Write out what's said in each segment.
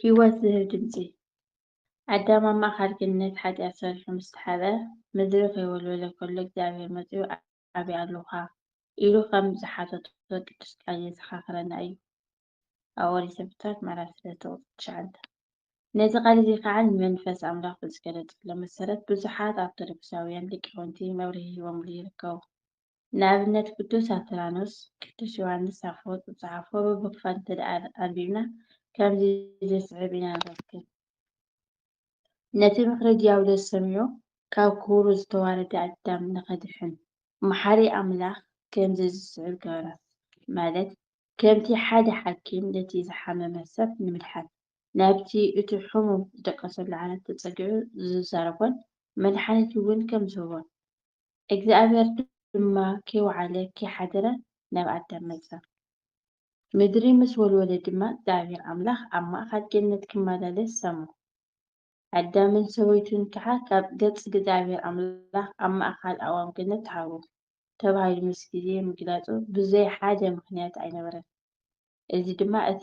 ህይወት ዝህብ ድምጺ። ኣዳም ኣብ ማእከል ገነት ሓጢኣት ሰሪሑ ምስ ተሓብአ፣ ምድሪ ከይወልወለ ከሎ እግዚኣብሄር መጺኡ ኣበይ ኣሎኻ? ኢሉ ኸም ዝሓተቶ ቅዱስ ቃል የዘኻኽረና እዩ። ኣብ ኦሪት ዘፍጥረት ምዕራፍ ሰለስተ ቁጽሪ ትሽዓተ። ነዚ ቃል እዚ ኸኣ ንመንፈስ ኣምላኽ ብዝገለጸሎም መሰረት ብዙሓት ኣርቶዶክሳውያን ሊቃውንቲ መብርሂ ሂቦምሉ ይርከቡ። ንኣብነት ቅዱስ ኣትራኖስ፣ ቅዱስ ዮሓንስ ኣፈወርቅ ዝጸሓፎ ብብኽፋት እንተድኣ ኣንቢብና ከምዚ ዝስዕብ ኢና ንረክብ። ነቲ ምኽሪ ድያብሎስ ሰሚዑ ካብ ክብሩ ዝተዋረደ ኣዳም ንኸድሕን መሓሪ ኣምላኽ ከምዚ ዝስዕብ ገበረ ማለት ከምቲ ሓደ ሓኪም ነቲ ዝሓመመ ሰብ ንምድሓን ናብቲ እቲ ሕሙም ዝደቀሰሉ ዓራት ተጸጊዑ ዝዛረቦን መድሓኒት እውን ከም ዝህቦን እግዚኣብሄር ድማ ኪውዓለ ኪሓድረ ናብ ኣዳም መጸ። ምድሪ ምስ ወልወለ ድማ እግዚኣብሄር ኣምላኽ ኣብ ማእከል ገነት ኪመላለስ ሰሞ። ኣዳምን ሰበይቱን ከኣ ካብ ገጽ እግዚኣብሄር ኣምላኽ ኣብ ማእከል ኣእዋም ገነት ተሓብኡ። ተባሂሉ ምስ ግዜ ምግላጹ ብዘይ ሓደ ምኽንያት ኣይነበረን። እዚ ድማ እቲ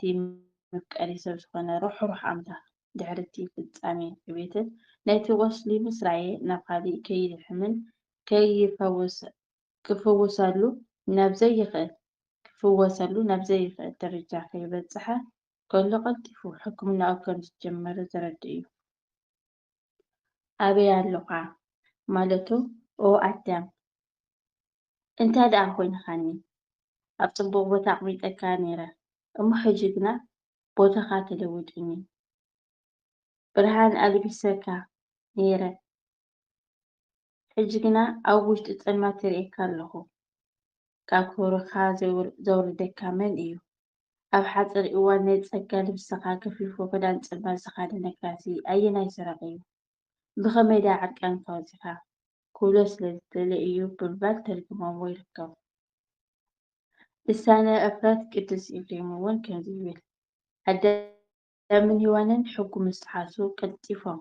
መፍቀሪ ሰብ ዝኾነ ርሕሩሕ ኣምላኽ ድሕሪ እቲ ፍጻሜ ዕቤትን ነቲ ቁስሊ ምስራየ ናብ ኻሊእ ከይልሕምን ክፍወሰሉ ናብ ዘይኽእል ደረጃ ከይበጽሐ ከሎ ቀልጢፉ ሕክምናኡ ከም ዝጀመረ ዘረድእ እዩ። ኣበይ ኣሎኻ? ማለቱ ኦ ኣዳም፣ እንታይ ደኣ ኾይንካኒ? ኣብ ጽቡቕ ቦታ ኣቕሚጠካ ነይረ፣ እሞ ሕጂ ግና ቦታኻ ተለዊጡኒ። ብርሃን ኣልቢሰካ ነይረ፣ ሕጂ ግና ኣብ ውሽጢ ጸልማት ይርእየካ ኣለኹ። ካብ ክብርኻ ዘውርደካ መን እዩ? ኣብ ሓጺር እዋን ናይ ጸጋ ልብስኻ ገፊፉ ክዳን ጸልማት ዝኻደነካሲ ኣየናይ ሰራቒ እዩ? ብኸመይ ደኣ ዕርቃንካ ወጺኻ? ክብሎ ስለ ዝደልየ እዩ ብምባል ተርጒሞምዎ ይርከቡ። ልሳነ ዕፍረት ቅዱስ ኤፍሬም እውን ከምዚ ይብል፣ ኣዳም ለምን ሂዋንን ሕጉ ምስ ጥሓሱ ቀልጢፎም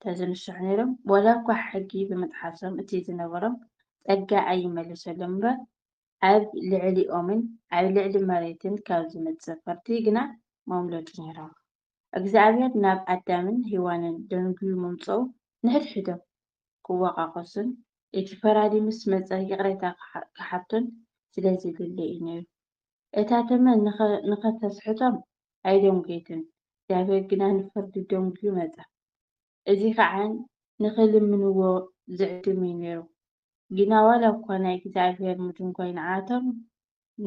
ተዝንስሑ ነይሮም ዋላ እኳ ሕጊ ብምጥሓሶም እቲ ዝነበሮም ጸጋ ኣይመለሰሎምን እምበር ኣብ ልዕሊኦምን ኣብ ልዕሊ መሬትን ካብ ዝመጽእ ፍርዲ ግና መምለጡ ነይሮም። እግዝኣብሄር ናብ ኣዳምን ሂዋንን ደንጉዩ ምምጽኡ ንሕድሕዶም ክዋቃቆሱን እቲ ፈራዲ ምስ መጸ ይቅሬታ ክሓቱን ስለዝደለየ እዩ ነይሩ። እታ ተመን ንኸተስሕቶም ኣይደንጐየትን፣ እግዚኣብሄር ግና ንፍርዲ ደንጕዩ መጸ። እዚ ኸኣ ንኺልምንዎ ዚዕድም እዩ ነይሩ። ግና ዋላ እኳ ናይ እግዚኣብሄር ምድንጓይ ንዓኣቶም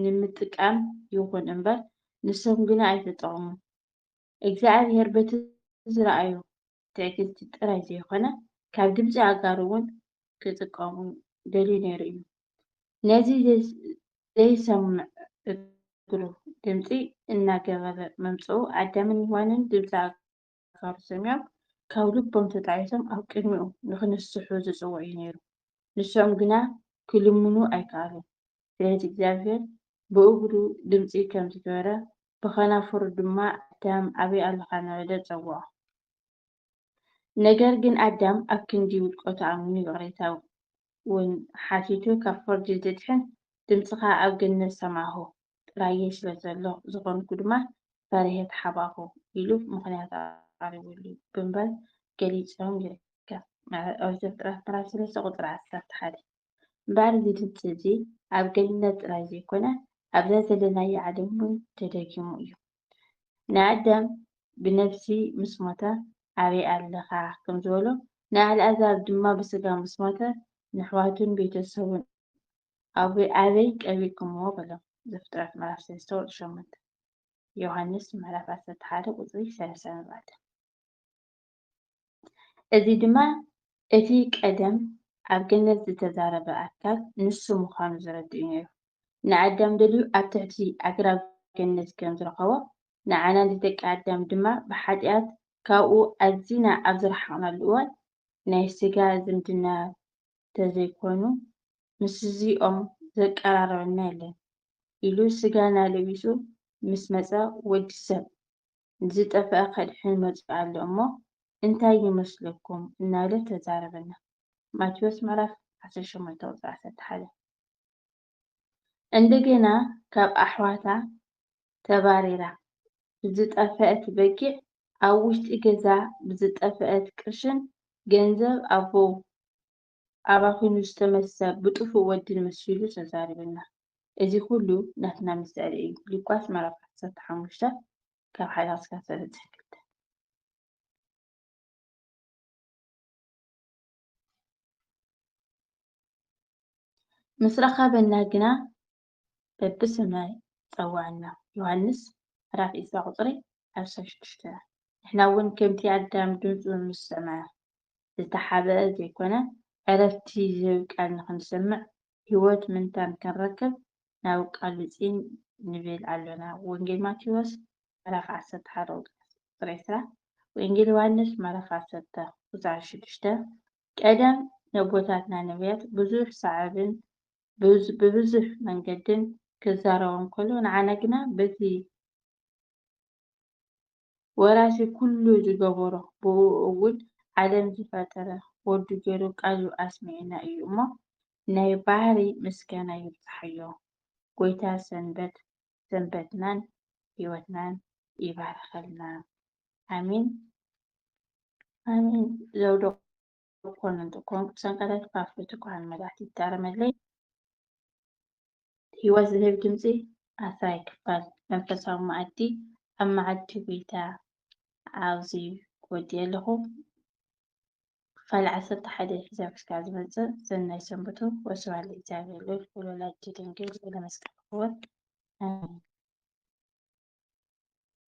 ንምጥቃም ይኹን እምበር፣ ንሶም ግና ኣይተጠቕሙን። እግዚኣብሄር በቲ ዝረኣዮ ትዕግስቲ ጥራይ ዘይኮነ ካብ ድምጺ ኣጋሩ እውን ክጥቀሙ ደልዩ ነይሩ እዩ። ነዚ ዘይሰምዕ እግሩ ድምጺ እናገበረ ምምጽኡ ኣዳምን ሄዋንን ድምጺ ኣጋሩ ሰሚዖም ካብ ልቦም ተጣዒሶም ኣብ ቅድሚኡ ንኽንስሑ ዝጽውዕ እዩ ነይሩ። ንሶም ግና ክልምኑ ኣይከኣሉን ስለዚ እግዚኣብሄር ብእግሩ ድምጺ ከም ዝገበረ ብኸናፍሩ ድማ ኣዳም ኣበይ ኣሎኻ እናበለ ጸውዖ። ነገር ግን ኣዳም ኣብ ክንዲ ውድቀቱ ኣሚኑ ይቕሬታ ውን ሓቲቱ ካብ ፍርዲ ዝድሕን ድምጽኻ ኣብ ገነት ሰማዕኩ ጥራዬ ስለ ዘሎ ዝኾንኩ ድማ ፈሪሔ ተሓባእኩ ኢሉ ምኽንያት ኣቕሪቡሉ ብምባል ገሊጾም ይርከብ። ኦሪት ዘፍጥረት ምዕራፍ ሰለስተ ቁጽሪ ዓሰርተ ሓደ። እምበኣር እዚ ድምጺ እዚ ኣብ ገነት ጥራይ ዘይኮነ ኣብዛ ዘለናያ ዓለም እውን ተደጊሙ እዩ። ንኣዳም ብነብሲ ምስ ሞተ ኣበይ ኣለኻ ከም ዝበሎ ንኣልኣዛር ድማ ብስጋ ምስ ሞተ ንኣሕዋቱን ቤተ ሰቡን ኣበይ ቀቢርኩምዎ በሎ ዘፍጥረት ምዕራፍ ሰለስተ ቁጽሪ ሸሞንተ ዮሃንስ ምዕራፍ ዓሰርተ ሓደ ቁጽሪ ሰላሳ ንባዕዳ። እዚ ድማ እቲ ቀደም ኣብ ገነት ዝተዛረበ ኣካል ንሱ ምዃኑ ዘረድእ'ዩ ነይሩ። ንኣዳም ደልዩ ኣብ ትሕቲ ኣግራብ ገነት ከም ዝረኸቦ፣ ንዓና ንደቂ ኣዳም ድማ ብሓጢኣት ካብኡ ኣዚና ኣብ ዝረሓቕናሉ እዋን ናይ ስጋ ዝምድና ተዘይኮይኑ ምስዚኦም ዘቀራርበና የለን ኢሉ ስጋና ለቢሱ ምስ መጸ ወዲ ሰብ ዝጠፍኣ ከድሕን መጺኡ ኣሎ እሞ እንታይ ይመስለኩም እናበለ ተዛረበና። ማቴዎስ ምዕራፍ ዓሰርተ ሸሞንተ ቁጽሪ ዓሰርተ ሓደ። እንደገና ካብ ኣሕዋታ ተባሪራ ብዝጠፈኣት በጊዕ ኣብ ውሽጢ ገዛ ብዝጠፈኣት ቅርሽን ገንዘብ ኣቦው ኣባኺኑ ዝተመሰ ብጥፉእ ወድን መሲሉ ተዛሪቡና። እዚ ኩሉ ናትና ምስዕሪ እዩ። ሉቃስ ምዕራፍ ዓሰርተ ሓሙሽተ ካብ ሓደ ክሳብ ሰለስተ ክልተ። ምስ ረኸበና ግና በብስምና ይጸውዓና ዮሃንስ ምዕራፍ ዕስራ ቁጽሪ ዓሰርተ ሽዱሽተ ንሕና እውን ከምቲ ኣዳም ድምጹ ምስ ሰምዐ ዝተሓብአ ዘይኮነ ዕረፍቲ ዝህብ ቃል ንኽንሰምዕ ሕይወት ምንታን ክንረክብ ናብ ቃሉ ጽን ንብል ኣሎና ወንጌል ማቴዎስ ምዕራፍ ዓሰርተ ሓደ ቁጽሪ ዕስራ ወንጌል ዮሃንስ ምዕራፍ ዓሰርተ ቁጽሪ ሽዱሽተ ቀደም ነቦታትና ነብያት ብዙሕ ሰዓብን ብብዙሕ መንገድን ክዛረቦም ከሎ ንዓና ግና በቲ ወራሲ ኩሉ ዝገበሮ ብእኡ እውን ዓለም ዝፈጠረ ወዱ ገይሩ ቃሉ ኣስሚዑና እዩ እሞ ናይ ባህሪ ምስጋና ይብጽሓዮ። ጎይታ ሰንበት ሰንበትናን ህይወትናን ይባርኸልና። ኣሜን ኣሜን ዘውዶ ኮኑ እንተ ኮንኩ ብሰንቀታይ ክፋፍርት እኳ ንመላእክት ይታረመለይ ህይወት ዝህብ ድምጺ ኣስራይ ክፋል መንፈሳዊ መኣዲ ኣብ መዓዲ ጎይታ ኣብዚ ክወድየ ኣለኹ ክፋል ዓሰርተ ሓደ ሒዛብ ክሳብ ዝመጽእ ሰናይ ሰንብቱ ወስብሐት ለእግዚኣብሔር ልዑል ወለወላዲቱ ድንግል ወለመስቀሉ ክቡር ኣሜን